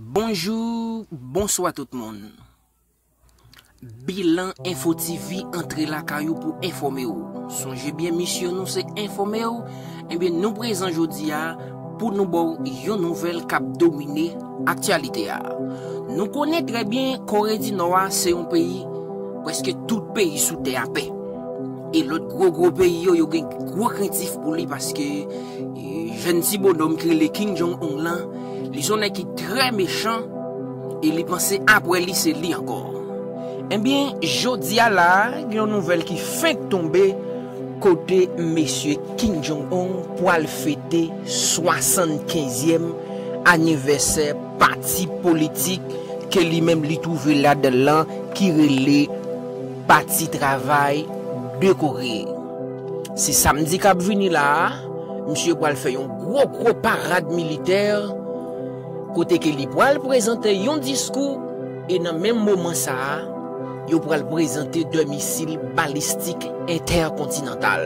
Bonjou, bonswa tout moun. Bilan Info TV antre lakay ou pou enfòme ou. Sonje byen misyon nou se enfòme ou, ebyen nou prezan jodi a pou nou ba ou yon nouvèl k ap domine aktyalite a. Nou konnen trè byen Kore di Nò a se yon peyi prèske tout peyi sou tè a pè. E lòt gwo gwo peyi yo, yo gen gwo krentif pou li paske jèn ti bonòm ki rele Kim Jong Un lan, li son nèg ki trè mechan e li panse apre li se li ankò. Ebyen jodi a la a, gen yon nouvèl ki fenk tonbe kote mesye Kim Jong Un pwal fete 75 zyèm anivèsè pati politik ke li menm li twouve ladan l lan ki rele. Pati travay de Koré. Se samdi kap vini la a, misye pwal fè yon gwo gwo parad militè kote ke li pwal prezante yon diskou e nan menm moman sa a, yo pwal prezante 2 misil balistik entèkontinantal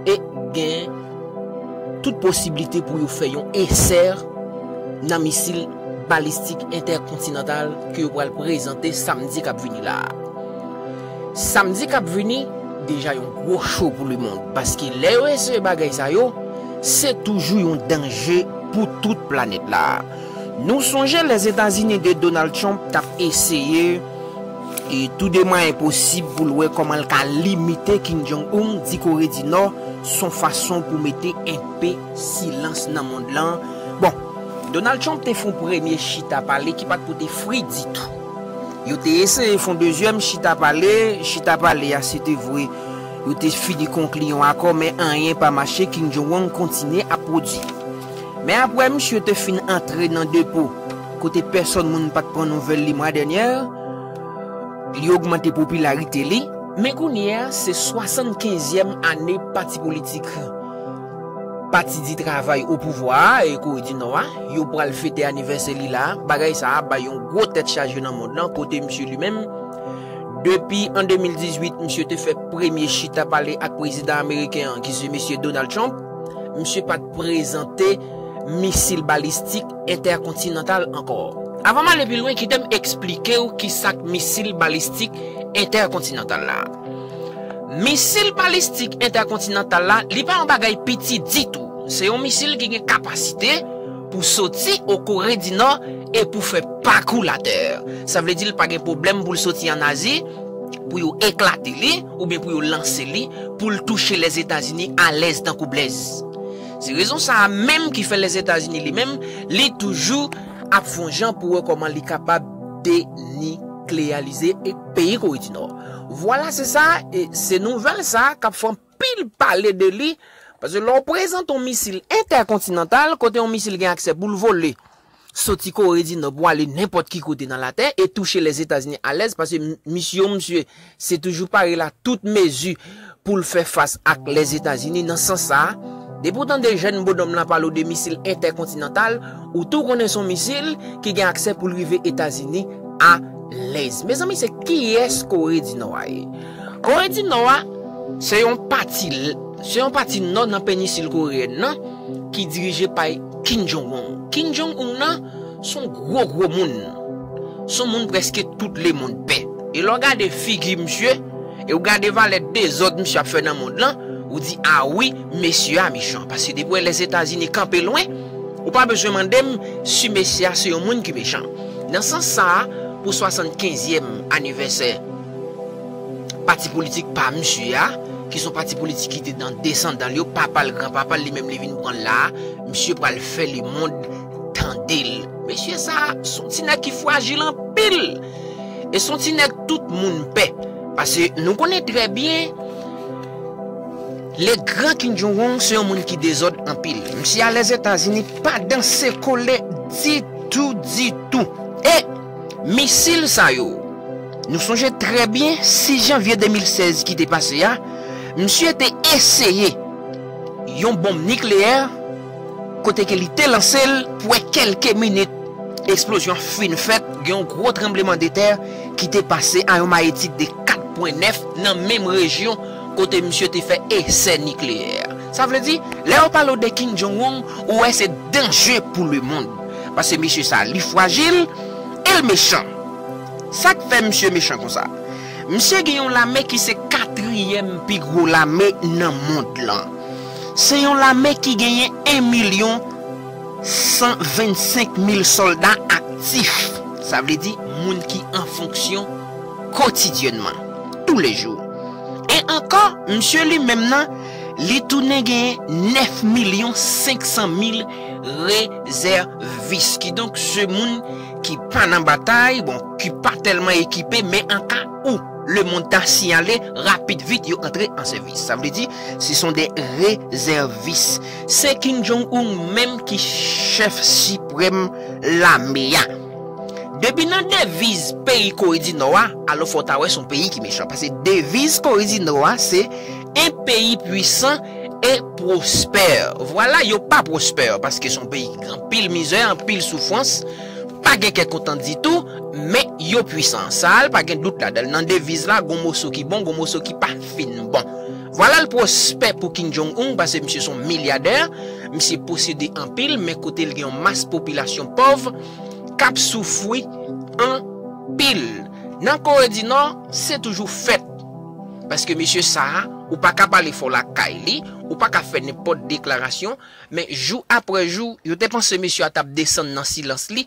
e gen tout posiblite pou yo fè yon esè nan misil balistik entèkontinantal ke yo pral prezante samdi kap vini la a. Samdi kap vini deja yon gwo cho pou lemond paske lè yo eseye bagay sa yo, se toujou yon danje pou tout planèt la a. Nou sonje Lèzetazini de Donald Trump tap eseye tou de mwayen posib pou l wè kòman l ka limite Kim Jong Un di Kore di Nò son fason pou mete enpe Silans nan mond lan. Bon, Donald Trump te fon premye chita pale ki pat pote fri ditou. Yo te eseye fon dezyèm chita pale, chita pale a se te vwe yo te fini konkli yon akò men anyen pa mache Kim Jong Wang kontinye ap pwodi. Men apre misye te fin antre nan depo kote pèsòn moun pat pran nouvèl li mwa dènyè, li ogmante popilarite li. Men kounye a se 75 ème ane pati politik. Pati di travay o pouvwa a, e Kore di Nò a, yo pral fete anivèsè li la a. Bagay sa a bay yon gwo tèt chaje nan mond lan kote misye li menm, depi an 2018, misye te fè premye chita pale ak prezidan ameriken an ki se mesye Donald Trump, misye pa t prezante misil balistik entèkontinantal ankò. Avan m ale pi lwen, kite m esplike w ki sa k misil balistik entèkontinantal la. Misil balistik entèkontinantal la, li pa yon bagay piti ditou. Se yon misil ki gen kapasite pou soti o Kore di Nò e pou fè pakou latè. Sa vle di l pa gen pwoblèm pou l soti an Azi, pou yo eklate li, oubyen pou yo lanse li, pou l touche Lèzetazini alèz tankou blèz. Se rezon sa a menm ki fè Lèzetazini li menm, li toujou ap fon jan pou wè kòman li kapab deniklealize peyi Kore di Nò. Vwala se sa, e se nouvèl sa a k ap fè anpil pale de li, paske lè w prezante yon misil entèkontinantal, kote yon misil gen aksè pou l vole soti Kore di Nò pou ale nenpòt ki kote nan latè e touche Lèzetazini alèz, paske misyon misye se toujou pare la tout mezi pou l fè fas ak Lèzetazini nan sans sa a, depi w tande jèn bonòm lan pale w de misil entèkontinantal, ou tou konnen se yon misil ki gen aksè pou l rive Etazini alèz. Mezanmi se kiyès Kore di Nò a ye? Kore di Nò a se yon pati se yon pati nò nan penisil koreyèn nan ki dirije pay Kim Jong-un. Kim Jong-un nan. Son gwo gwo moun. Son moun preske tout lemond pè. E lè w gade figi misye, e w gade valè dezòd misye ap fè nan mond lan, ou di a wi mesye a mechan. Paske depi w wè Lèzetazini kanpe lwen, ou pa bezwen mande m si mesye a se yon moun ki mechan. Nan sans sa a, pou 75 zyèm anivèsè pati politik pa misye a, ki son pati politik ki te nan desandan l yo, papa l, gran papa l, li menm li vin pran l la a, misye pral fè lemond. Tandel mesye sa son ti nèg ki frajil anpil e son ti nèg tout moun pè pase nou konnen trè byen le gran Kim Jong Un se yon moun ki dezòd anpil misye al lèzetazini pa danse kole ditou ditou e misil sa yo nou sonje trè byen 6 janvye 2016 ki te pase a misye te eseye yon bonm nikleyè kote ke li te lanse l pou wè kelke minit eksplozyon an fin fèt, gen yon gwo tranbleman de tè ki te pase a yon mayetid de 4 pwen 9 nan menm rejyon kote misye te fè esè nikleyè. Sa vle di, lè yo pale w de Kim Jong Un, ou wè se danje pou lemond. Pase mesye sa li fwajil e l mechan. Sa k fè misye mechan konsa? Misye gen yon lame ki se katriyèm pi gwo lame nan mond lan. Se yon lame ki genyen 1 milyon 125 mil sòlda aktif, sa vle di moun ki an fonksyon kotidyènman, tou le jou. E ankò, misye li menm nan, li tounen genyen 9 milyon 500 mil rezèvis, kidonk se moun ki pa nan batay, bon, ki pa tèlman ekipe, men an ka ou lemond ta siyale, rapid vit yo antre an sèvis. Sa vle di, Se son de rezèvis. Se Kim Jong Un menm ki chèf siprèm lame a. Depi nan deviz peyi Kore di Nò a, alò fò w ta wè son peyi ki mechan. Pase deviz Kore di Nò a se un pays puissant et prospère. Vwala yo pa pwospè paske son peyi ki gen anpil mizè, anpil soufrans, pa gen kè kontan ditou, men yo pwisan. Sa a l pa gen dout ladan l. Nan deviz la gon moso ki bon, gon moso ki pa. ap fin bon. Vwala l pwospè pou Kim Jong Un pase misye son milyadè, misye posede anpil men kote l gen yon mas popilasyon pòv k ap soufwi anpil. Nan Kore di Nò, se toujou fèt. Paske mesye sa a, ou pa ka pale fò lakay li, ou pa ka fè nenpòt deklarasyon, men jou apre jou, yo te panse mesye a t ap desann nan silans li,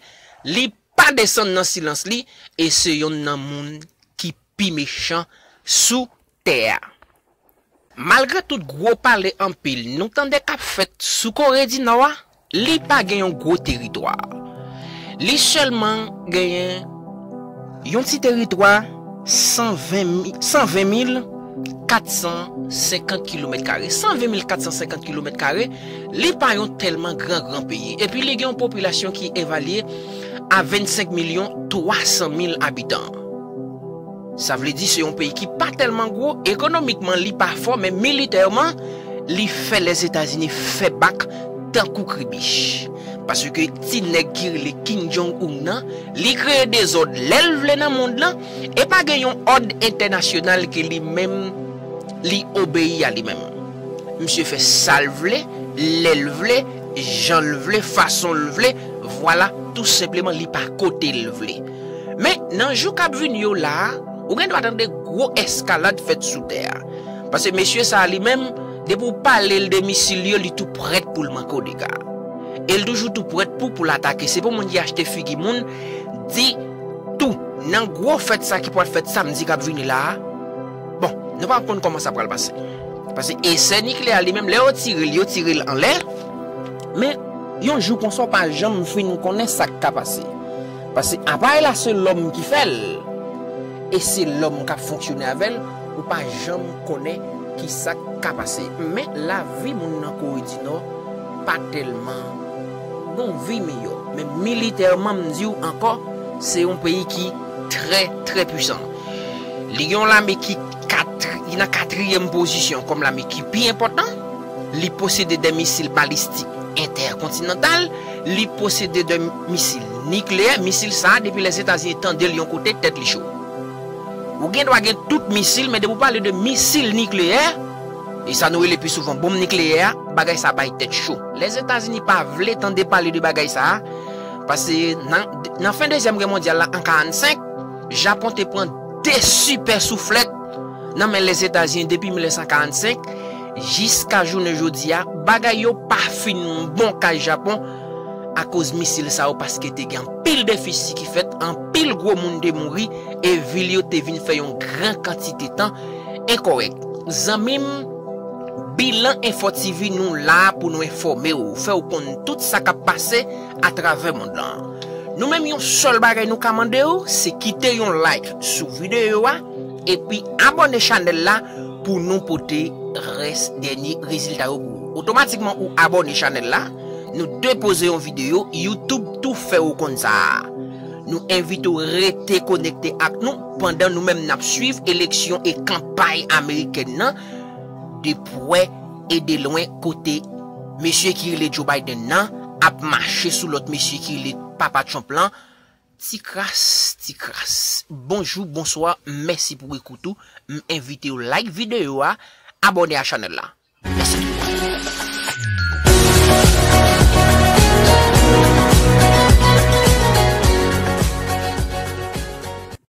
li pa desann nan silans li e se yonn nan moun ki pi mechan sou tè a. Malgre tout gwo pale anpil nou tande k ap fèt sou Kore di Nò a, li pa gen yon gwo teritwa. Li sèlman genyen yon ti teritwa 120 mil 450 kilomèt kare, 120 mil 450 kilomèt kare, li pa yon tèlman gran gran peyi. Epi li gen yon popilasyon ki evalye a 25 milyon 300 mil abitan. Sa vle di se yon peyi ki pa tèlman gwo, ekonomikman li pa fò men militèman li fè Lèzetazini fè bak tankou kribich. Paske ti nèg ki rele Kim Jong Un nan, li kreye dezòd lè l vle nan mond lan e pa gen yon òd entènasyonal ke li menm li obeyi a li menm. Misye fè sa l vle, lè l vle, jan l vle, fason l vle, vwala tou senpleman li pa kote l vle. Men, nan jou k ap vini yo la a, ou gendwa tande gwo eskalad fèt sou tè a. Pase mesye sa a li menm, depi w pale l de misil yo, li tou prèt pou l manke w dega. E l toujou tou prèt pou pou l atake. Se pou moun ki achte figi moun di tou, nan gwo fèt sa a ki pral fèt samdi k ap vini la a, bon, nou pa konn kòman sa pral pase. Pase esè nikleyè a li menm, lè yo tire l, yo tire l anlè. Men, yon jou konsa w pa janm fin konnen sa k ka pase. Paske aparèy la se lòm ki fè l, e se lòm k ap fonksyone avè l, ou pa janm konnen ki sa k ka pase. Men, lavi moun nan Kore di Nò pa tèlman bon, vi miyò. Men militèman, m di w ankò, se yon peyi ki trè, trè pwisan. Li gen yon lame ki nan katriyèm pozisyon kòm lame ki pi enpòtan. Li posede 2 misil balistik entèkontinantal, li posede 2 misil nikleyè, misil sa depi Lèzetazini tande l yon kote tèt li cho. Ou gen dwa gen tout misil men depi ou pale de misil nikleyè, e sa nou rele pi souvan bonm nikleyè a, bagay sa bay tèt cho. Lèzetazini pa vle tande pale de bagay sa a, pase nan fen dezyèm gè mondyal la an 45, Japon te pran 2 sipè souflèt nan men Lèzetazini depi 1945, Jiska jounen jodi a, bagay yo pa fin bon kay Japon akoz misil sa yo paske te gen anpil defisi ki fèt, anpil gwo moun te mouri e vil yo te vin fè yon gran kantite tan enkòrèk. Zanmi m, Bilan Enfo TV nou la pou nou enfòme w, fè w konn tout sa k ap pase atravè mond lan. Nou menm yon sèl bagay nou ka mande w se kite yon like sou videyo a, Epi abone chanel la pou nou pote res denye rezilta yo pou ou. Otomatikman ou abone chanel la, nou depoze yon video, YouTube tou fè ou konn sa a. Nou envite ou rete konekte ak nou pandan nou menm nap swiv eleksyon e kanpay amerikèn nan de pwè e de lwen kote mesye ki rele Joe Biden nan ap mache sou lòt mesye ki rele papa Trump lan Ti kras ti kras Bonjou bonswa mèsi pou ekout ou m envitew like video a abòne a chanèl la mèsi tout moun.